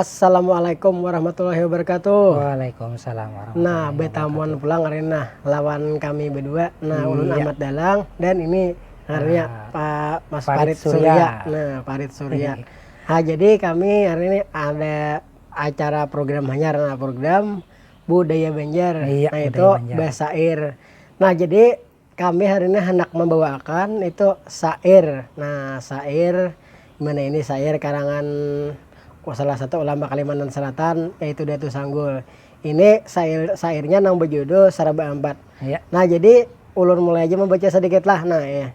Assalamualaikum warahmatullahi wabarakatuh. Waalaikumsalam warahmatullahi Nah, wabarakatuh. betamuan pulang hari ini nah lawan kami berdua. Nah, hmm, ulun iya. Ahmad Dalang dan ini ngarannya nah, Pak Mas Farid, Farid Surya. Surya. Nah, Farid Surya. ha, jadi kami hari ini ada acara program hanyar nah program budaya Banjar. Iya, nah, budaya itu Banjar. Basair. Nah, jadi kami hari ini handak membawaakan itu sair nah sair dimana ini sair karangan salah satu ulama kalimantan selatan yaitu datu sanggul ini sair sairnya nang bejudul saraba ampat ya nah jadi ulun mulai aja membaca sedikit lah nah ya.